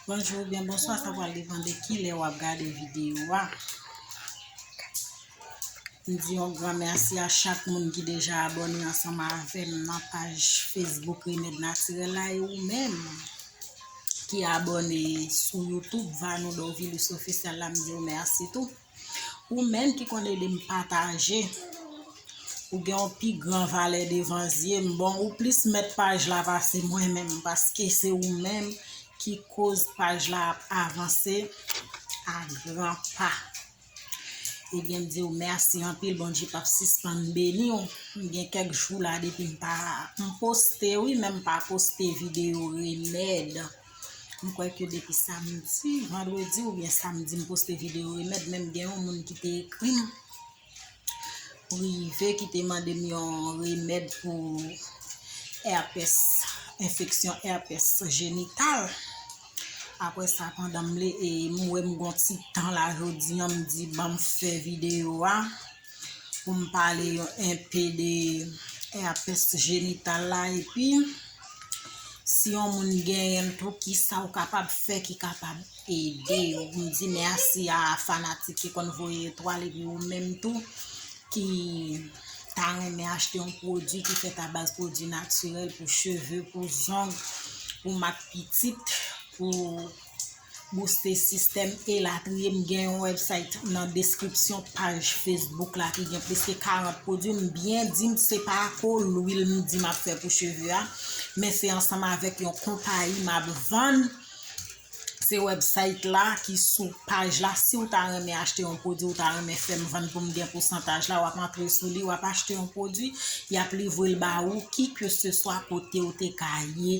Bonjou ou byen bonswa sa pral depan de ki lè wap gade videyo a. M di yon gran mèsi a chak moun ki deja abòne ansanman avèm nan paj Facebook Remèd Natirèl la e ou menm ki abòne sou YouTube Vanou Dorvilus Officiel la m diw mèsi tou. Ou menm ki konn ede m pataje Ou gen yon pi gran valè devan zye m Bon ou plis mèt paj la pase mwen menm Paske se ou menm ki koz paj la ap avanse a gran pa Ebyen m di w mèsi anpil Bondye p ap sispann beni w M gen kèk jou la depi m pa M poste wi men m pa poste videyo remèd M kwè ke depi samdi, vandredi oubyen samdi m poste videyo remèd menm gen yon moun ki te ekri m prive ki te mande m yon remèd pou èpès, enfeksyon èpès jenital. Apre sa pandan m li e m wè m gon ti tan la jodi an m di banm fè videyo a. pou m pale yon enpe de herpès jenital la epi si yon moun genyen l tou kisa ou kapab fè ki kapab ede yo m di mèsi a fanatik ki konn voye etwal epi ou menm tou ki ta renmen achte yon pwodwi ki fèt abaz pwodwi natirèl pou cheve pou zong pou mak pitit pou booste sistèm elatriye m gen yon website nan deskripsyon paj Facebook la ki gen plis ke 40 pwodwi m byen di m se pa ko lwil m di map fè pou cheve a men se ansanm avèk yon konpayi map vann se website la ki sou paj la si w ta renmen achte yon pwodwi w ta renmen fèm vann pou m gen pousantaj la wap antre sou li wap achte yon pwodwi yap livre l ba ou ki ke se swa kote ou te ka ye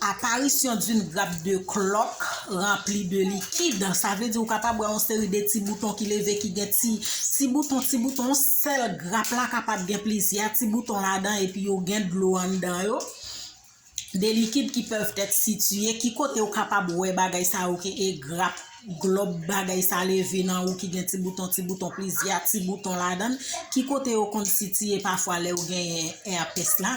Aparisyon d'une grappe de cloques remplie de liquide, sa vle di ou kapab wè yon seri de ti bouton ki leve ki gen ti ti bouton ti bouton, yon sèl grap la kapab gen plizyè ti bouton ladan epi yo gen dlo anndan yo, de liquide qui peuvent être situés ki kote ou kapab wè bagay sa yo ki e grap, glòb bagay sa leve nan ou ki gen ti bouton ti bouton plizyè ti bouton ladan, ki kote yo konn sitiye pafwa lè ou genyen èpès la.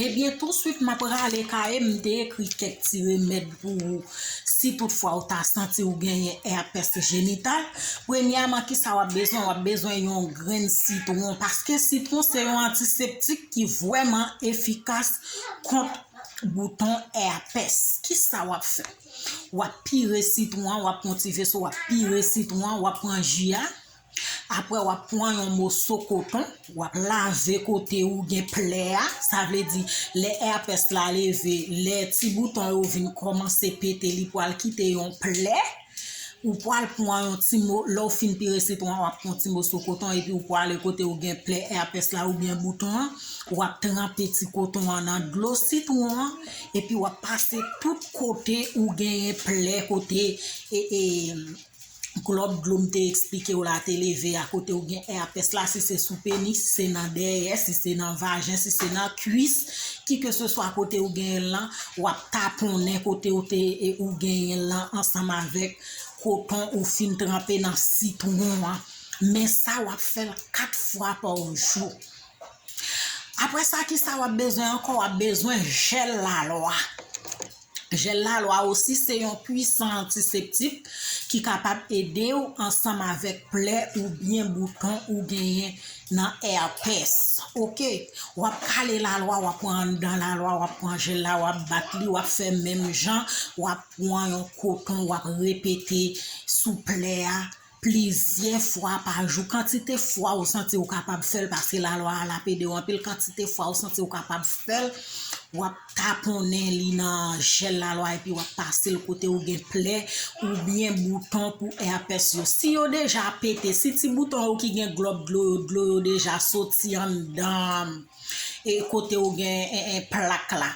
Ebyen touswit map rale kayem m te ekri kèk ti remèd pou ou si tout fwa ou ta santi ou genyen èpès jenital premyèman kisa wap bezwen wap bezwen yon grenn sitwon paske sitwon se yon antiseptik ki vwèman efikas kont bouton èpès kisa wap fè wap pire sitwon an wap pran ti veso wap pire sitwon an wap pran ji a. Aprè wap pwan yon moso koton wap lave kote ou gen plè a, sa vle di lè èpès la leve, lè ti bouton yo vin kòmanse pete li pwal kite yon plè, ou pwal pwan yon ti mo, lè ou fin pire sitwon an wap pwan ti moso koton epi ou pwale kote ou gen plè èpès la ou byen bouton an, wap tranpe ti koton an nan dlo sitwon an epi wap pase tout kote ou genyen plè kote e e. Klòb dlo m te eksplike w la te leve a kote w gen èpès la si se sou penis, si se nan dèyè, si se nan vajen, si se nan kwis, kikeseswa kote w genyen l lan, w ap taponnen kote w te ou genyen l lan ansanm avèk koton ou fin tranpe nan sitwon an. Men sa w ap fè l 4 fwa pa jou. Aprè sa kisa w ap bezwen ankò w ap bezwen jèl lalwa. Jèl lalwa osi se yon pwisan antiseptik ki kapab ede w ansanm avèk plè oubyen bouton ou genyen nan èpès ok wap kale lalwa wap pran anndan lalwa wap pran jèl la wap bat li wap fè menm jan wap pran yon koton wap repete sou plè a plizyè fwa pa jou kantite fwa ou santi ou kapab fèl paske lalwa a lap edew anpil kantite fwa ou santi ou kapab fèl wap taponnen li nan jèl lalwa epi wap pasel kote ou gen plè oubyen bouton pou èpès yo si yo deja pete si ti bouton yo ki gen glòb dlo yo dlo yo deja soti anndan e kote ou gen plak la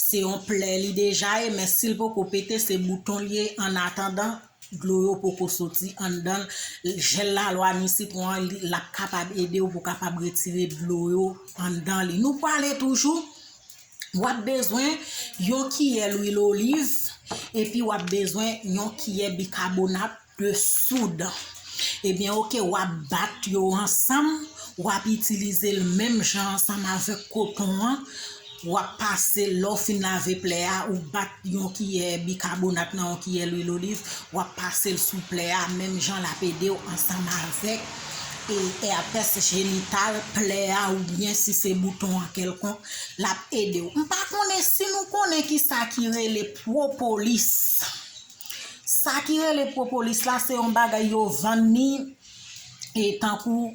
se yon plè li deja ye men sil poko pete se bouton liye annatandan dlo yo poko soti anndanl jel lalwa ni sitron an lap kapab edew pou kapab retire dlo yo anndan li nou pale toujou wap bezwen yon kiyè lwil oliv epi wap bezwen yon kiyè bikabonat de soud ebyen ok wap bat yo ansanm wap itilizel menm jan ansanm avèk koton an Wap pase lèw fin lave plè a ou bat yon kiyè bikabonat nan yon kiyè lwil oliv wap pasel sou plè a menm jan lap edew ansanm avèk èpès jenital plè a oubyen si se bouton an kèlkonk lap edew m pa konnen si nou konnen kisa ki rele pwopolis sa ki rele pwopolis la se yon bagay yo vann ni tankou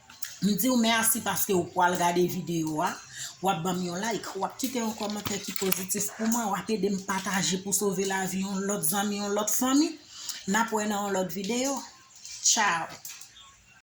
M diw merci paske ou pwal gade video a, wap banm yon like, wap kite yon kòmantè ki pozitif pou mwen, wap edem pataje pou sove lavi yon lòt zanmi, yon lòt fanmi. Nap wè nan yon lòt video. Ciao.